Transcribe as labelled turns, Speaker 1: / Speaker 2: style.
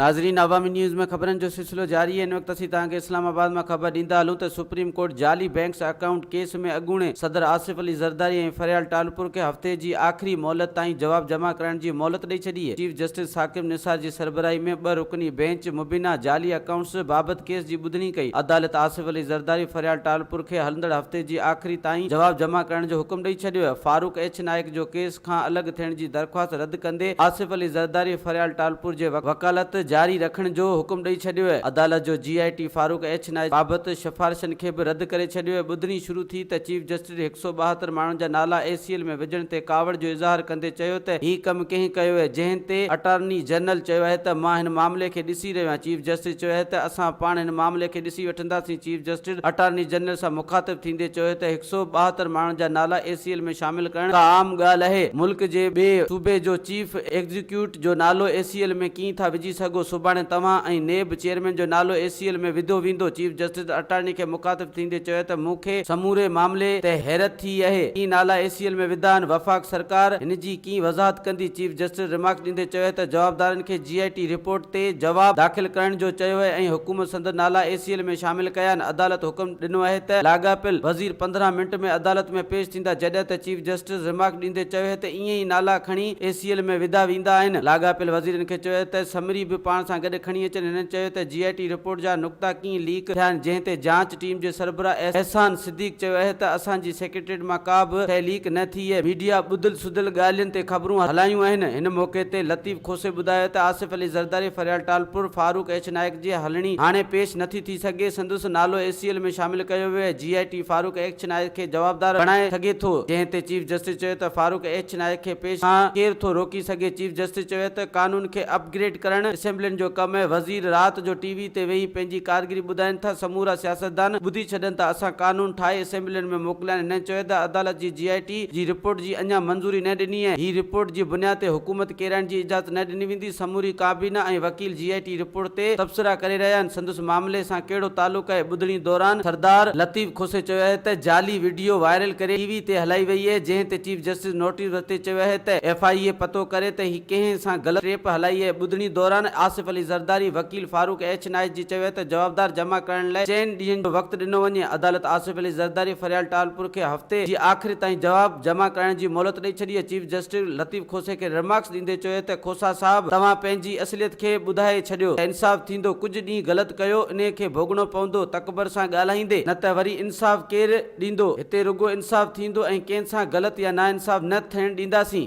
Speaker 1: ناظرين عوامي نيوز ۾ خبرن جو سلسلو جاري آهي ان وقت اسين توهان کي اسلام آباد مان خبر ڏيندا هلون ته سپريم ڪورٽ جعلي بينڪس اڪائونٽ ڪيس ۾ اڳوڻي صدر آصف علي زرداري ۽ فريال ٽالپر کي هفتي جي آخري مهلت تائين جواب جمع ڪرائڻ جي مهلت ڏئي ڇڏي چيف جسٽس ثاقب نثار جي سربراهي ۾ ٻه رڪني بينچ مبينا جعلي اڪائونٽس بابت ڪيس جي ٻڌڻي ڪئي عدالت آصف علي زرداري فريال ٽالپر کي هلندڙ هفتي جي آخري تائين جواب جمع ڪرائڻ جو حڪم ڏئي ڇڏيو فاروق ايڇ نائيڪ جو ڪيس کان الڳ ٿيڻ جي درخواست رد ڪندي آصف علي زرداري فريال ٽالپور جي وڪالت جاري رکڻ جو حڪم ڏئي ڇڏيو عدالت جو J I T Farooq H Naik بابت سفارشن کي به رد ڪري ڇڏيو ٻڌڻي شروع ٿي ته چيف جسٽس هڪ سؤ ٻاهتر ماڻهن جا نالا اي سي ايل ۾ وجهڻ تي ڪاوڙ جو اظهار ڪندي چيو ته هي ڪم ڪنهن ڪيو اهي جنهن تي اٽارني جنرل چيو اهي ته مان هن معاملي کي ڏسي رهيو آهيان چيف جسٽس چيو اهي ته اسان پاڻ هن معاملي کي ڏسي چندا سنگهه چيف جسٽس اٽارني جنرل سان مخاطب ٿيندي چيو ته هڪ سئو ٻاهتر ماڻهن جا نالا اي سي ايل ۾ شامل ڪرڻ ڪا عام ڳالهه اهي ملڪ جي ٻئي صوبي جو چيف ايگزيڪيوٽ جو نالو اي سي ايل ۾ ڪين ٿا وجهي سگهو سڀاڻي توهان ۽ نيب چيئرمين جو نالو اي سي ايل ۾ وڌو ويندو چيف جسٽس اٽارني کي مخاطب ٿيندي چيو ته مون کي سموري معاملي تي حيرت ٿي اهي ڪين نالا اي سي ايل ۾ وڌا آهن وفاق سرڪار هن جي ڪي وضاحت ڪندي چيف جسٽس ريمارڪس ڏيندي چيو ته جوابدارن کي جي آء ٽي رپورٽ تي جواب داخل ڪرڻ جو چيو ۽ حڪومت سندن نالا اي سي ايل ۾ شامل ڪيا آهن عدالت حڪم ڏنو آهي ته لاڳاپيل وزير پندرهن منٽ ۾ عدالت ۾ پيش ٿيندا جڏهن ته چيف جسٽس ريمارڪس ڏيندي چيو ته ائين ئي نالا کڻي اي سي ايل ۾ وڌا ويندا آهن لاڳاپيل وزيرن کي چيو ته سمري به پاڻ سان گڏ کڻي اچن هنن چيو ته جي آء ٽي رپورٽ جا نقطا ڪيئن ليڪ ٿيا آهن جنهن تي جانچ ٽيم جي سربراهه احسان صديق چيو اهي ته اسان جي سيڪريٽريٽ مان ڪا به شئي ليڪ نه ٿي اهي ميڊيا ٻڌل سڌل ڳالهين تي خبرون هلايون آهن، هن موقعي تي لطيف کوسي ٻڌايو ته آصف علي زرداري فريال ٽالپر، فاروق ايڇ نائيڪ جي هلڻي هاڻي پيش نٿي ٿي سگهي، سندس نالو اي سي ايل ۾ شامل ڪيو ويو ۽ J I T Farooq H Naik کي جوابدار بڻائي سگهي ٿو، جنهن تي چيف جسٽس چيو ته فاروق ايڇ نائيڪ کي پيش کان ڪير ٿو روڪي سگهي، چيف جسٽس چيو ته قانون کي اپ گريڊ ڪرڻ اسيمبلين جو ڪم آهي، وزير رات جو ٽي. تي ويهي پنهنجي ڪارگري ٻڌائين ٿا، سمورا سياستدان ٻڌي ڇڏن ته اسان قانون ٺاهي اسيمبلين ۾ موڪليا آهن، انهن چويو ته عدالت جي جي آء ٽي جي رپورٽ جي اڃا منظوري نه ڏني ۽ هي رپورٽ جي بنياد تي حڪومت ڪيرائڻ جي اجازت نه ڏني ويندي، سموري ڪابينا ۽ وڪيل جي آء ٽي رپورٽ تي تبصرا ڪري رهيا آهن، سندس معاملي سان ڪهڙو تعلق آهي، ٻڌڻي دوران سردار لطيف کوسي چيو آهي ته جعلي وڊيو وائرل ڪري ٽي وي تي هلائي وئي اهي جنهن تي چيف جسٽس نوٽيس ورتي چيو اهي ته ايف آء اي پتو ڪري ته هي ڪنهن سان غلط ٽيپ هلائي اهي، ٻڌڻي دوران آصف علي زرداري وڪيل. وڪيل فاروق ايڇ نائيز جي چيو ته جوابدار جمع ڪرڻ لاء چئن ڏينهن جو وقت ڏنو وڃي، عدالت آصف علي زرداري فريال ٽالپر کي هفتي جي آخر تائين جواب جمع ڪرائڻ جي مهلت ڏئي ڇڏي، چيف جسٽس لطيف کوسي کي رمارڪس ڏيندي چيو ته کوسا صاحب توهان پنهنجي اصليت کي ٻڌائي ڇڏيو ته انصاف ٿيندو، ڪجهه ڏينهن غلط ڪيو انهي کي ڀوڳڻو پوندو، تڪبر سان ڳالهائيندي نه ته وري انصاف ڪير ڏيندو، هتي رڳو انصاف ٿيندو ۽ ڪنهن سان غلط يا ناانصاف نه ٿيڻ ڏينداسين.